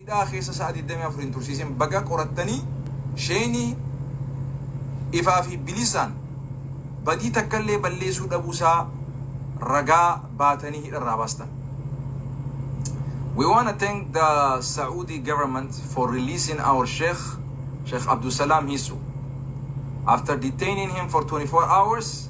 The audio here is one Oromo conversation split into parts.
Hidhaa keessa sa'a 24 hin tursiisin baga qorattanii Sheenii ifaa fi bilisaan badii takka illee balleessuu dhabuu isaa ragaa baatanii hidha irraa baastan. We want to thank the Saudi government for releasing our Sheikh, Sheikh Abdul Salam Hisu. After detaining him for 24 hours,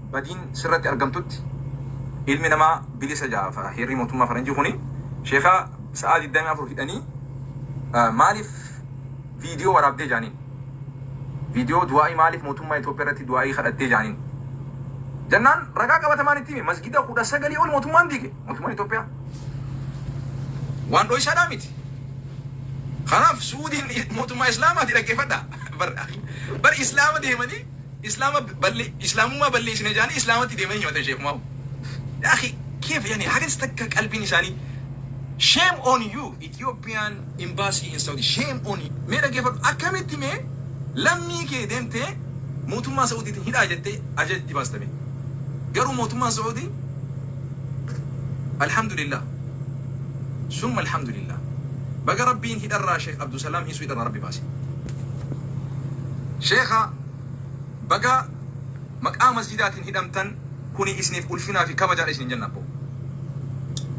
badiin sirratti argamtutti ilmi namaa bilisa jaafa heerrii mootummaa faranjii kuni sheeka sa'aa 24 hidhanii maaliif viidiyoo waraabdee jaaniin viidiyoo du'aa'ii maaliif mootummaa Itoophiyaa irratti du'aa'ii kadhattee jaaniin jennaan ragaa qabatamaan itti hime masgida kudha sagalii ol mootummaan diige mootummaan Itoophiyaa waan dho'isaadhaa miti kanaaf suudiin mootummaa islaamaati dhaggeeffadha bar islaama deemanii Islaama balle islaamummaa balleesina jaanii islaamatti deemanii himatan sheek maaw yaa akhi keef yani hagas takka qalbiin isaanii shame on you Ethiopian embassy in Saudi shame on you mee dhageefadhu akkamitti mee lammii kee deemtee mootummaa Saudiitiin hidhaa jettee ajaja itti baasta mee garuu mootummaan Saudi alhamdulillah summa alhamdulillah baga rabbiin hidharraa sheek Abdusalaam hiisuu hidharraa rabbi baase sheekha Bagaa maqaa masjidaatiin hidhamtan kuni isiniif ulfinaa fi kabajaadha isiniin jenna abboo.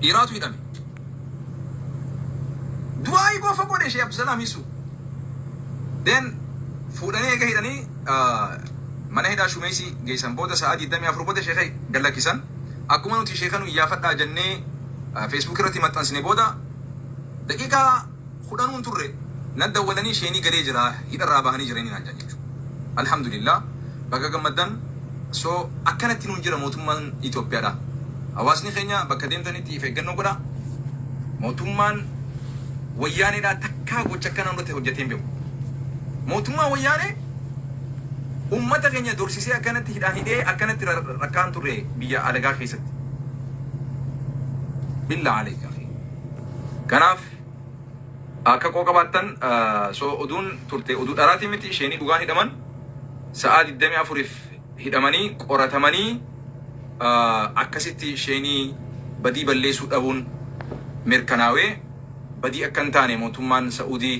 Dhiiraatu hidhame. Du'aa'ii qofa godhe Shee Abdusalaam Isu. Then fuudhanii eega hidhanii mana hidhaa Shumeesii geessan booda sa'aa 24 booda sheeka gad lakkisan. Akkuma nuti sheeka nu iyyaafadhaa jennee Facebook irratti maxxansine booda daqiiqaa kudhanuun turre naddawwalanii sheenii galee jira hidha irraa bahanii jiranii naan jedhan jechu Alhamdulillah baga gammaddan so akkanatti nuun jira mootummaan Itoophiyaadha hawaasni keenya bakka deemtanitti if eeggannoo godha mootummaan wayyaaneedhaa takkaa gocha akkana nurratti hojjeteen beeku mootummaan wayyaanee ummata keenya dorsisee akkanatti hidhaan hidhee akkanatti rakkaan turre biyya alagaa keessatti billaa aleekaa kanaaf Akka qooqa baattan so oduun turte oduu dharaati miti isheenii dhugaan hidhaman sa'aa 24f hidhamanii qoratamanii akkasitti isheenii badii balleessuu dhabuun mirkanaawee badii akka hin taane mootummaan sa'uudii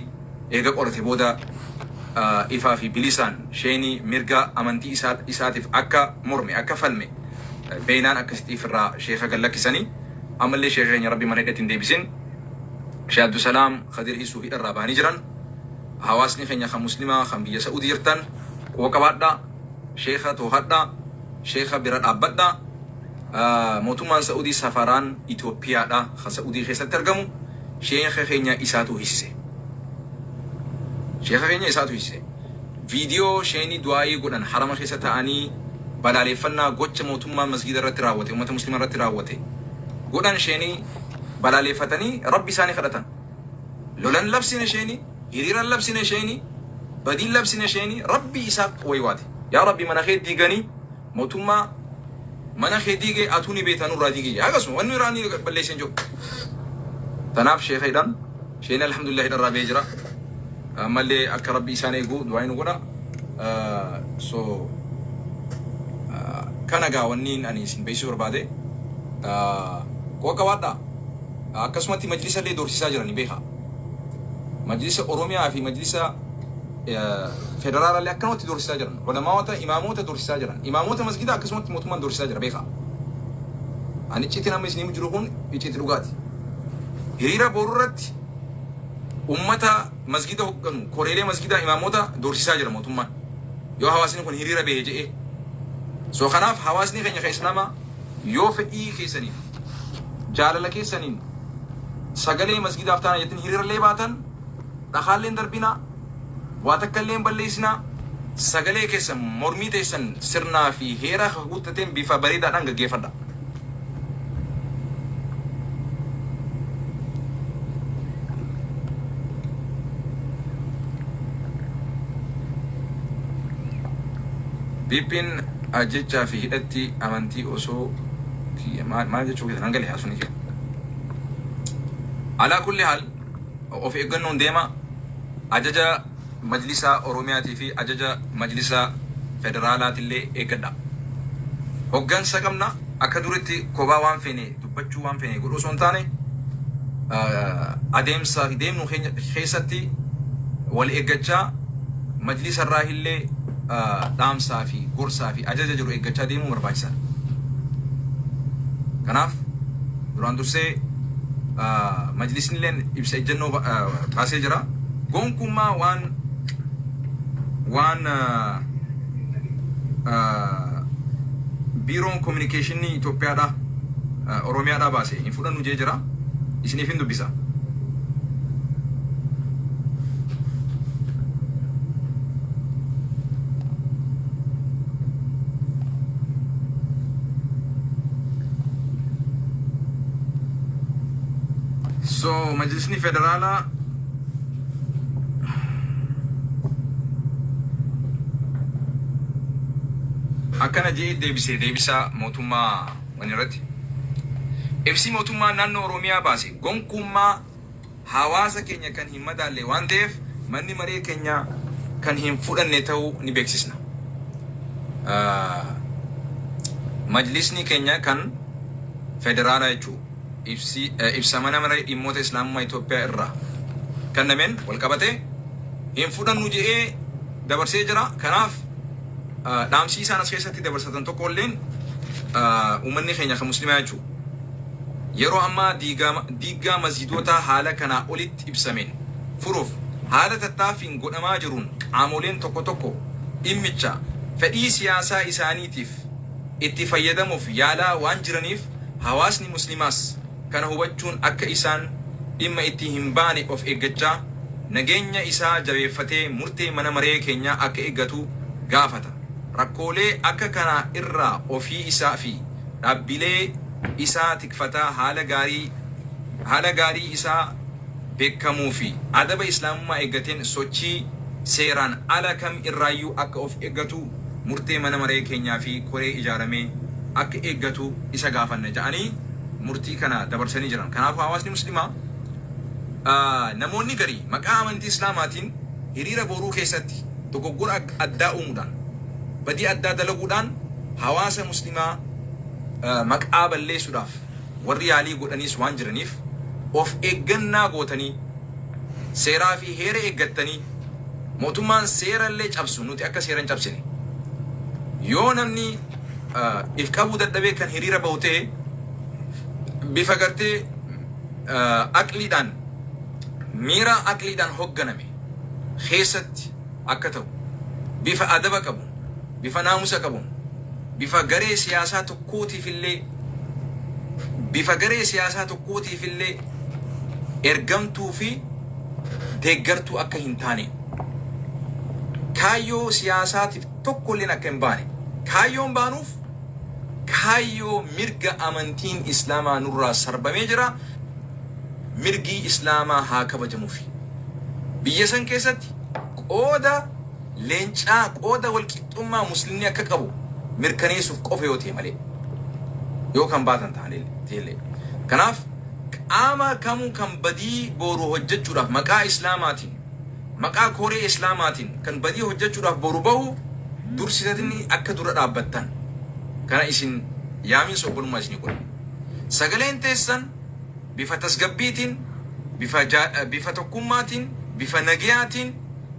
eega qorate booda ifaa fi bilisaan isheenii mirga amantii isaa isaatiif akka morme akka falme beeynaan akkasitti ifirraa sheeka gallakkisanii ammallee sheeka keenya rabbi mana hidhatti hin deebisin Sheh Abdusalaam Khadir Hiisuu hidharraa bahanii jiran. Hawaasni keenya kan Muslimaa kan biyya Sa'uudi jirtan quba qabaadhaa. Sheekha toohadhaa. Sheekha bira dhaabbadhaa. Mootummaan Sa'uudii safaraan Itoophiyaadha kan Sa'uudii keessatti argamu. Sheekha keenya isaatu hiisise. Sheekha keenya isaatu hiisise. Viidiyoo sheeni du'aayii godhan harama keessa ta'anii balaaleeffannaa gocha mootummaan masgiida irratti raawwate, uummata Muslimaa irratti raawwate godhan sheeni balaaleeffatanii Rabbi isaanii kadhatan. Lolan labsine sheeni, hiriiran labsine sheeni, badiin labsine sheeni, Rabbi Isaaq waywaate. Yaa Rabbi mana kee diiganii mootummaa mana kee diige atuu ni beekta nurraa diigi jedhe. Akkasuma wanni irraa ni balleessan jiru. Tanaaf sheeka hidhan. Sheenee Alhamdulillah hidharraa ba'ee jira. Ammallee akka Rabbi isaan eegu du'aayi nu godha. So kana gaa wanni ani isin beeksisuu barbaade qoqa waadhaa. Akkasumatti majlisa illee doorsisaa jirani beekaa. Majlisa Oromiyaa fi majlisa federaala illee akkanumatti doorsisaa jiran. Ulamaawota imaamoota doorsisaa jiran. Imaamoota masgidaa akkasumatti mootummaan doorsisaa jira beekaa. Ani icciitiin amma isiniif jiru kun icciitii dhugaati. Hiriira boru irratti ummata masgida hogganu, koreelee masgidaa, imaamota doorsisaa jira mootummaan. Yoo hawaasni kun hiriira bahe jedhee. So kanaaf hawaasni keenya ka Islaamaa yoo fedhii keessaniif jaalala keessaniin sagalee masgidaaf taana jettin hiriirallee baatan dhakaallee hin darbinaa. Waa takka illee hin balleessinaa. Sagalee keessan, mormii teessan sirnaa fi heera kakuu tateen bifa bareedaadhaan gaggeeffadhaa. PPn ajjechaa fi hidhatti amantii osoo maal jechuu keessan hanga lihaasuni kee. Alaa kulli haal Of eeggannoon deemaa, Ajaja Majlisa Oromiyaatii fi Ajaja Majlisa Federaalaatillee eeggadhaa. Hoggansa qabna, akka duritti kophaa waan feene dubbachuu, waan feene godhuu osoo hin taane, adeemsa deemnu keenya keessatti wal eeggachaa, Majlisa irraahillee dhaamsaa fi gorsaa fi ajaja jiru eeggachaa deemuun barbaachisaadha. Kanaaf. Duraan dursee Majlisnilleen ibsa ejjannoo baasee jira. Gonkummaa waan waan Biiroon Kominikeeshinnii Itoophiyaadhaa Oromiyaadhaa baase hin fudhannu jee jira. Isiniifin dubbisa. So majlisni federaalaa akkana jedhee deebisee deebisaa mootummaa wanirratti. Ibsi mootummaa naannoo Oromiyaa baase gonkuummaa hawaasa keenya kan hin madaalle waan ta'eef manni maree keenya kan hin fudhanne ta'uu ni beeksisna. Majlisni keenya kan federaalaa jechuun ibsa mana maree dhimmoota Islaamummaa Itoophiyaa irraa kennameen walqabatee hin fudhannu jedhee dabarsee jira. Kanaaf dhaamsii isaan as keessatti dabarsatan tokko illeen uummanni keenya kan muslimaa jechuudha. Yeroo ammaa diigaama diiggaa masjiidootaa haala kanaa olitti ibsameen furuuf haala tattaaffiin godhamaa jiruun qaamoleen tokko tokko dhimmicha fedhii siyaasaa isaaniitiif itti fayyadamuuf yaalaa waan jiraniif hawaasni musliimaas kana hubachuun akka isaan dhimma itti hin baane of eeggachaa nageenya isaa jabeeffatee murtee mana maree keenyaa akka eeggatu gaafata. Rakkoolee akka kanaa irraa ofii isaa fi. dhaabbilee isaa tikfataa haala gaarii haala gaarii isaa bekkamuu fi adaba Islaamummaa eeggateen sochii seeraan ala kam irraayyuu akka of eggatu murtee mana maree keenyaa fi koree ijaarame akka eeggatu isa gaafanna ja'anii murtii kana dabarsanii jiran. Kanaafuu hawaasni muslimaa namoonni garii maqaa amantii Islaamaatiin hiriira booruu keessatti dogoggora addaa uumuudhaan badii addaa dalaguudhaan Hawaasa muslimaa maqaa balleessuudhaaf warri yaalii godhaniis waan jiraniif of eeggannaa gootanii seeraa fi heera eeggattanii mootummaan seera illee cabsu nuti akka seera hin cabsine yoo namni if qabuu dadhabee kan hiriira bahu ta'e bifa gartee aqliidhaan miira aqliidhaan hogganame keessatti akka ta'u, bifa adaba qabuun, bifa naamusa qabuun, bifa garee siyaasaa tokkootiifillee, bifa garee siyaasaa tokkootiifillee ergamtuu fi deeggartuu akka hin taane, kaayyoo siyaasaatiif tokkolleen akka hin baane, kaayyoon baanuuf kaayyoo mirga amantiin Islaamaa nurraa sarbamee jira, mirgii Islaamaa haa kabajamufi. Biyya san keessatti. qooda leencaa qooda walqixxummaa muslimni akka qabu mirkaneessuuf qofa yoo ta'e malee yoo kan baatan ta'anillee kanaaf qaama kamuu kan badii booru hojjechuudhaaf maqaa islaamaatiin maqaa koree islaamaatiin kan badii hojjechuudhaaf booru bahu dursitanii akka dura dhaabbattan kana isin yaamiin sobbolummaa isinii godha sagaleen teessan bifa tasgabbiitiin, bifa bifa tokkummaatiin, bifa nagayaatiin,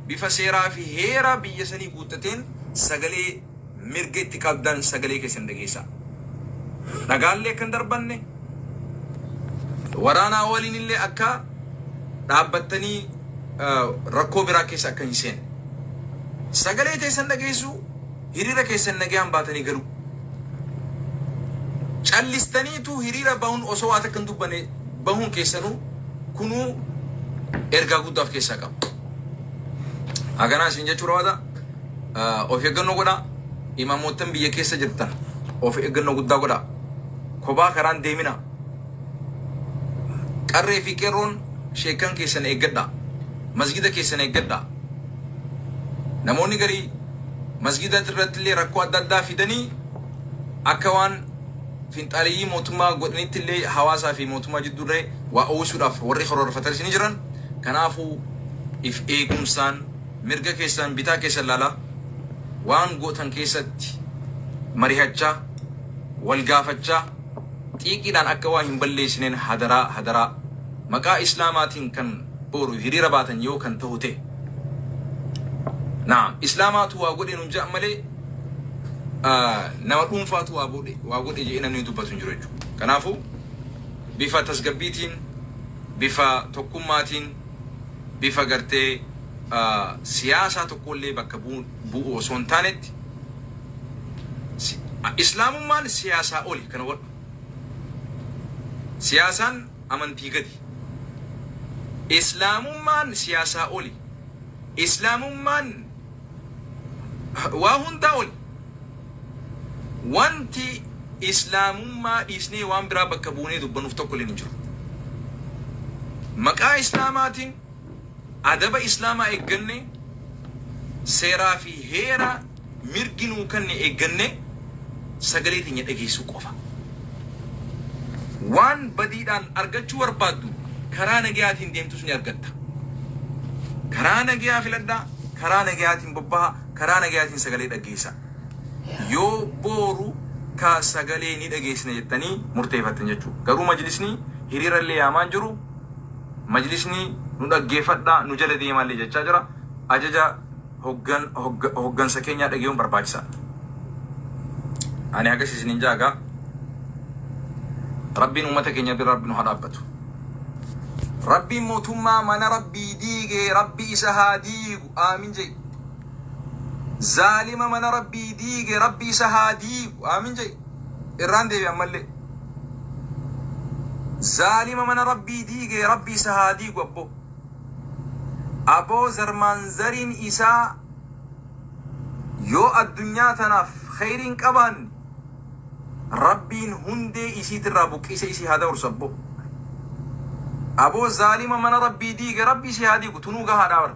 bifa seeraa fi heera biyya sanii guuttateen sagalee mirga itti qabdan sagalee keessan dhageessaa. Dhagaallee akka hin darbanne, waraanaa waliin illee akka dhaabbattanii rakkoo biraa keessa akka hin seenne. Sagalee teessan dhageessuu hiriira keessan nagayaan baatanii galuu. Callistaniituu hiriira bahun osoo waa takka hin dubbanne bahuun keessanuu kunuu ergaa guddaa of keessaa qaba. Haganaa isin jechuu barbaada. Ah, Of eeggannoo godhaa. Imaamoottan biyya keessa jirtan of eeggannoo guddaa godhaa. Kophaa karaan deeminaa. Qarree fi qeerroon sheekkan keessan eeggadhaa. Masgiida keessan eeggadhaa. Namoonni garii masgiida irratti illee rakkoo adda addaa fidanii akka waan finxaaleyyii mootummaa godhanitti illee hawaasaa fi mootummaa jidduu irra waa uwwisuudhaaf warri karoorfatanis ni jiran. Kanaafuu if eegumsaan mirga keessan bitaa keessan laalaa waan gootan keessatti marihachaa wal gaafachaa xiiqiidhaan akka waa hin balleesineen hadaraa hadaraa maqaa islaamaatiin kan boru hiriira baatan yoo kan tahu tahe na'am islaamaatu waa godhe nun ja'an malee nama dhuunfaatu waa godhe waa godhe je'ee namni dubbatu hin jiru jechuudha. Kanaafuu bifa tasgabbiitiin bifa tokkummaatiin bifa gartee siyaasaa tokkollee bakka bu'u osoo hin taanetti Islaamummaan siyaasaa oli kana hubadhu. Siyaasaan amantii gadi. Islaamummaan siyaasaa oli. Islaamummaan waa hundaa oli. Wanti Islaamummaa dhiisnee waan biraa bakka buunee dubbannuuf tokko illee hin jiru. Maqaa Islaamaatiin Adaba Islaamaa eeggannee, seeraa fi heera mirgi nuu kenne eeggannee sagalee teenya dhageessuu qofa. Waan badiidhaan argachuu barbaaddu karaa nagayaatiin deemtus ni argatta. Karaa nagayaa filadhaa, karaa nagayaatiin bobbahaa, karaa nagayaatiin sagalee dhaggeessaa. Yoo booru ka sagalee ni dhageessina jettanii murteefattan jechuudha. Garuu majlisni hiriira illee yaamaa hin jiru. Majlisni nu dhaggeeffadhaa nu jala deemaallee jechaa jira. Ajaja hoggan hogga hoggansa keenyaa dhagayuun barbaachisaadha. Ani hagas isiniin jaa egaa Rabbiin ummata keenya bira Rabbi nu haa dhaabbatu. Rabbiin mootummaa mana Rabbii diige Rabbi isa haa diigu. Aamin jai. Zaalima mana Rabbii diige Rabbi isa haa diigu. Aamin jai. Irraan deebi'e ammallee. Zaalima mana rabbii diige rabbi isa haa diigu abboo. Aboo zarmaan zariin isaa yoo addunyaa tanaaf kheyrii hin qabaanne rabbiin hundee isiitirraa buqqise isii haa dabarsu abboo. Aboo zaalima mana rabbii diige rabbi isii haa diigu tunuu gahaadhaa bara.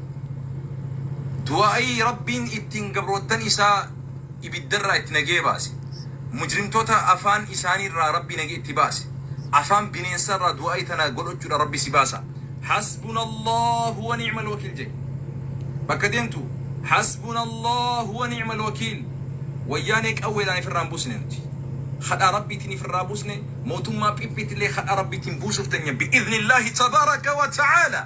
Du'aa'ii Rabbiin ittiin gabroottan Isaa ibiddarraa itti nagee baase. Mujrimtoota afaan isaaniirraa Rabbi nagee itti baase. Afaan bineensarraa du'aa'ii tana godhachuudhaan Rabbi si baasa. Hasbunallaahu wa ni'mal wakiil jedhi. Bakka deemtu Hasbunallaahu wa ni'mal wakiil. Wayyaanee qawweedhaan ifirraa hin buusne nuti. Kadhaa Rabbiitiin ifirraa buusne, mootummaa phiphiitillee kadhaa Rabbiitiin buusuuf teenya bi'iznillaahi tabaaraka wa ta'aalaa.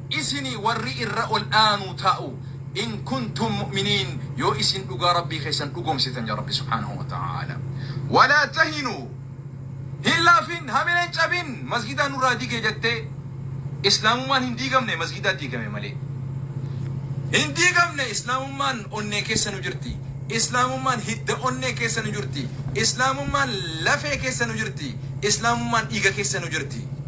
Isinii warri irra ol aanuu ta'u in kuntum mu'miniin yoo isin dhugaa Rabbii keessan dhugoomsitan jedha Rabbi subhaanahu wa ta'aala. Walaa tahinuu hin laafin hamila hin cabin masgidaa nurraa dige jettee islaamummaan hin diigamne masgidaa diigame malee. Hin diigamne islaamummaan onnee keessa nu jirti. Islaamummaan hidda onnee keessa nu jirti. Islaamummaan lafee keessa nu jirti. Islaamummaan dhiiga keessa nu jirti.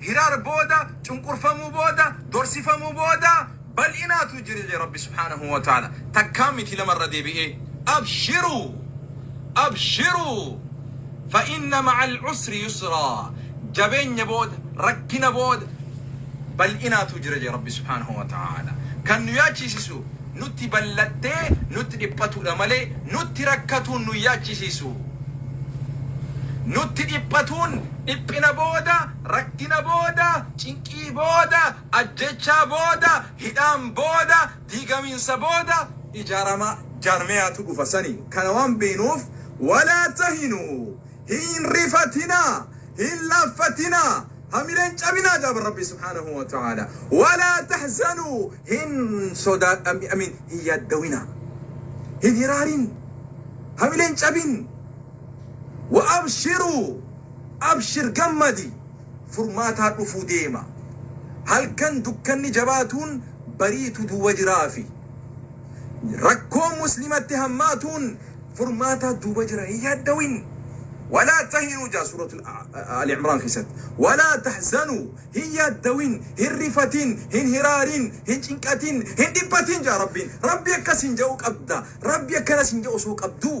Hiraar booda, cunqurfamuu booda, dorsifamuu booda bal'inaatu jira jedhe Rabbi subhaanahu wa ta'aala. Takkaa miti lama irra deebi'ee abshiruu abshiruu fa inna ma'al usri yusraa jabeenya booda, rakkina booda bal'inaatu jira jedhe Rabbi subhaanahu wa ta'aala. Kan nu yaachisisu nutti bal'attee nutti dhiphatuudha malee nutti rakkatuun nu yaachisisu. Nutti dhiphatuun Dhiphina booda, rakkina booda, cinqii booda, ajjeechaa booda, hidhaan booda, diigamiinsa booda ijaarama jaarmayaatu dhufa sani kana waan beenuuf walaa tahinuu hin rifatinaa hin laaffatinaa hamileen cabinaa jaaban rabbii subhaanahu wa ta'aala walaa tahzanuu hin sodaadha mi amiin hin yaaddawinaa hin hiraarin hamileen cabin Wa abshiruu abshir gammadi furmaataa dhufuu deema halkan dukkanni jabaatuun bariitu duuba jiraafi rakkoon muslimatti hammaatuun furmaataa duuba jira hin yaaddawin walaa tahinuu jaa suuratul ali imraan keessatti walaa tahzanuu hin yaaddawin hin rifatin hin hiraarin hin cinqatin hin dhiphatin jaa rabbiin rabbi akkas hin ja'u qabda rabbi akkana sin ja'u osoo qabduu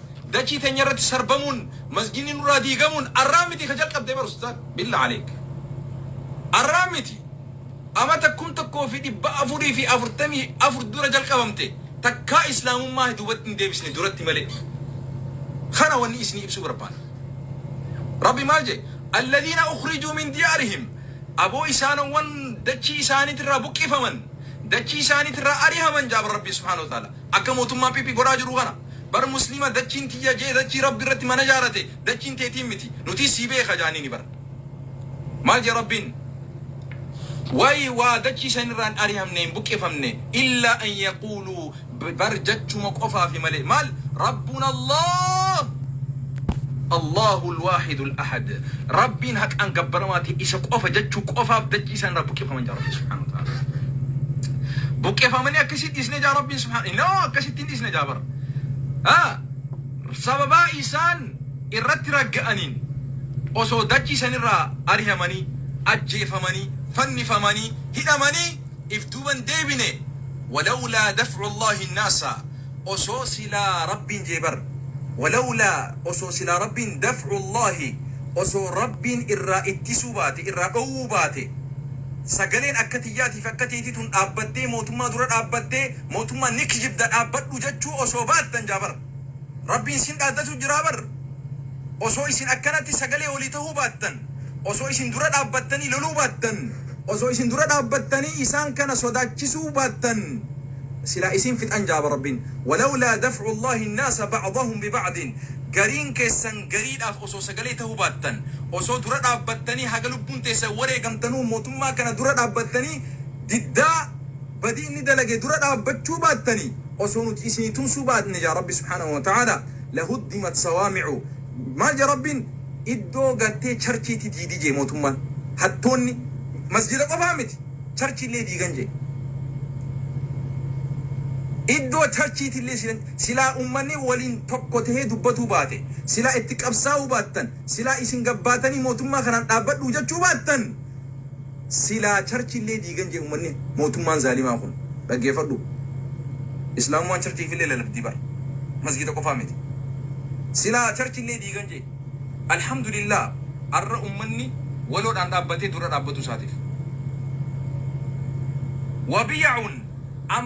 Dachii teenya irratti sarbamuun masjidni nurraa diigamuun arraa miti ka jalqabde bar ustaad billa aleek arraa miti amata kum tokkoo fi dhibba afurii fi afurtamii afur dura jalqabamte takkaa islaamummaa duubatti hin deebisne duratti malee kana wanni isinii ibsuu barbaada rabbi maal jee alladhiina ukhrijuu min diyaarihim aboo isaanowwan dachii isaaniitirraa buqqifaman dachii isaaniitirraa arihaman jaaba rabbii subhaanahu wa ta'ala akka mootummaa piipii godhaa jiru kana Bar muslima dachiin tiyya jee dachii rabbi irratti mana jaarate dachiin teetiin miti nutii sii beeka jaaniini bar maal jee rabbiin way waa dachii san irraa hin arihamne hin buqqifamne illa an yaquulu bar jachuma qofaafi male maal rabbun allah allahu lwaahidu lahad rabbiin haqaan gabbaramaa ta'e isa qofa jachuu qofaaf dachii san irraa buqqifaman jaa rabbi subhaanahu wa ta'ala buqqifamanii akkasii dhiisne jaa rabbiin subhaanahu no akkasitti dhiisne jira bar. a. Sababaa isaan irratti ragga'aniin osoo dachii san irraa arihamanii, ajjeefamanii, fannifamanii, hidhamanii if duuba hin deebine walawlaa daf'u Allaahi nnaasa osoo silaa Rabbiin jee bar walawlaa osoo silaa Rabbiin daf'u Allaahi osoo Rabbiin irraa ittisuu baate, irraa dhoowwuu baate sagaleen akka tiyyaatiif akka teetii tun dhaabbattee mootummaa dura dhaabbattee Mootummaan ni kijibda dhaabbadhu jechuu osoo baattan jaa bar Rabbiin isin dhaadatu jiraa bar osoo isin akkanatti sagalee walii tahuu baattan osoo isin dura dhaabbattanii loluu baattan osoo isin dura dhaabbattanii isaan kana sodaachisuu baattan silaa isin fixan jaa bar Rabbiin walawlaa daf'u Allaahi annaasa ba'dahum biba'din gariin keessan gariidhaaf osoo sagalee tahuu baattan osoo dura dhaabbattanii haga lubbuun teessan wareegamtanuu mootummaa kana dura dhaabbattanii diddaa badii inni dalage dura dhaabbachuu baattanii osoo nuti isinii tumsuu baatne ja Rabbi subhaanahu wa ta'aalaa lahuddimat sawaami'u maal ja Rabbiin iddoo gartee charchiiti diidi jee mootummaan hattoonni masjida qofaa miti charchiillee diigan jee iddoo charchiitillee silan silaa ummanni waliin tokko tahee dubbatuu baate silaa itti qabsaa'uu baattan silaa isin gabbaatanii mootummaa kanaan dhaabbadhuu jechuu baattan Silaa church illee diigan jee ummanni mootummaan zaalimaa kun. Dhaggeeffadhu. Islaamummaan church'iif illee lalabdii bar. Masgiida qofaa miti. Silaa church illee diigan jee. Alhamdulillah arra ummanni waloodhaan dhaabbatee dura dhaabbatuu isaatiif. Wabiyaun amma.